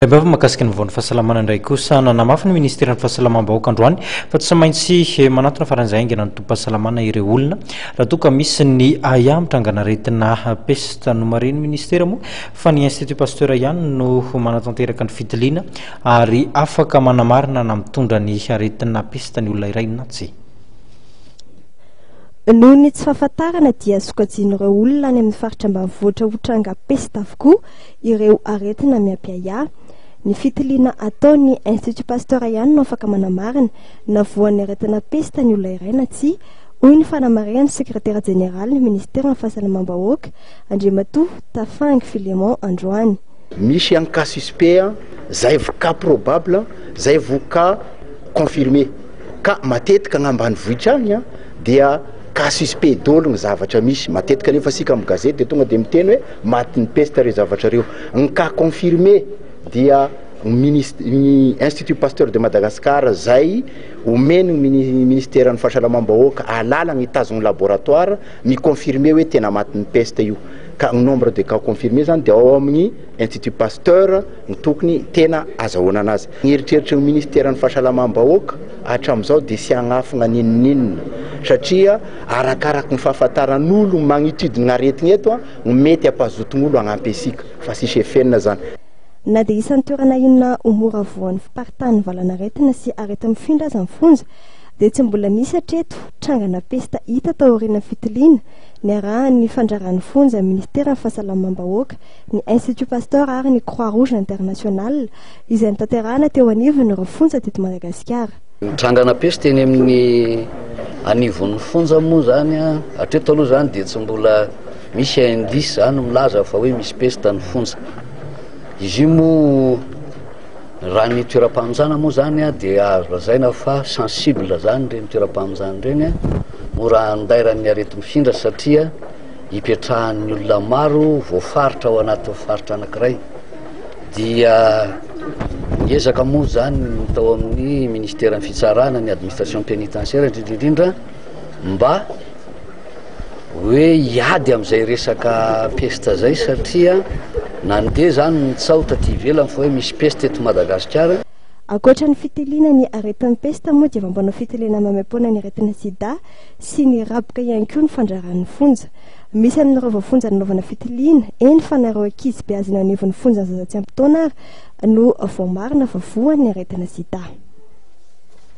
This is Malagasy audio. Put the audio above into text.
Tarimbavy mahakasika ny vaovao ny fahasalamana indray kosa. Nanamafy ny ministeran'ny fahasalamam-bahoaka androany fa tsy maintsy manantona faran'izay haingana ny tobim-pahasalamana ireo olona raha toa ka misy ny ahiahy mitrangan'aretina pesta. Nomarihin'ny ministera moa fa ny Institut Pasteur ihany no manatanteraka ny fitiliana ary afaka manamarina na mitondra ny aretina pesta ny olona iray na tsia. Noho ny tsy fahafantarana dia sokajian'ireo olona any amin'ny faritra ambanivohitra ho tranga pesta avokoa ireo aretina miapiahiahy. Ny fitiliana ataon'ny Institut Pasteur ihany no afaka manamarina na voan'ny aretina pesta ny olona iray na tsia, hoy ny fanamarihan'ny sekretera jeneralin'ny minisiteran'ny Fahasalamam-bahoaka, Andriamatoa Tafangy Philémon androany. Misy an cas suspect zay vao cas probable zay vao cas confirmé ka matetika agny ambanivohitra agny dia cas suspect doly ny zavatra misy matetika nefa isika am gazety dia tonga dia miteny hoe Matin'ny peste ireo zavatra ireo. Ny cas confirmé dia ny minis- ny Institut Pasteur de Madagascar izay omeny ny mini- ministeran'ny fahasalamam-bahoaka alalana hitazona laboratoire mi-confirmer hoe tena matin'ny peste io. Ka ny nombre de cas confirmé izany dia ao amin'ny Institut Pasteur no tokony tena azahoanana azy. Ny eritreritry ny ministeran'ny fahasalamam-bahoaka hatramin'izao dia tsy hanafina n'inon'inona satria Arakaraky ny fahafantaran'olo magnitudin' aretigny eto gny mety hampazotogn'olo hagnampy antsika, fa tsisy efenina zany. Na dia isan'ny toerana inona ho mora voan'ny fiparitahan'ny valanaretina sy aretina mifindra aza ny fonja, dia tsy mbola nisy hatreto trangana pesta hita taorian'ny fitiliana niarahan'ny fandraran'ny fonja Ministeran'ny Fahasalamam-bahoaka, ny Institut Pasteur ary ny Croix-Rouge Internationale izay notanterahana teo anivon'ireo fonja teto Madagasikara. Nitrangana peste eny amin'ny anivon'ny fonja moa zany a, hatreto aloha zany dia tsy mbola misy indice zany milaza fa hoe misy peste ny fonja. Izy io moa raha ny toeram-pamonjana moa zany a dia azo lazaina fa sensible zany ireny toeram-pamonjana ireny a, mora andairan'ny areti-mifindra satria ipetrahan'ny olona maro voafaritra ao anatin'ny faritra anankiray. dia niezaka moa zany tao amin'ny ministeran'ny fitsarana ny administration pénitentiaire indrindrindrindra mba hoe hiady am'izay resaka peste zay satria nandeha zany ny tsaho taty ivelany fa hoe misy peste eto madagasikara Ankoatra ny fitiliana ny aretin'ny pesta moa dia mampanao fitiliana maimaim-poana ny aretina sida sy ny raboka ihany koa ny fandraran'ny fonja. Misy aminareo voafonja nanaovana fitiliana, eny fa nareo ankizy beazy eny anivon'ny fonjan'ny zaza tsy ampy taona ary no voamarina fa voan'ny aretina sida.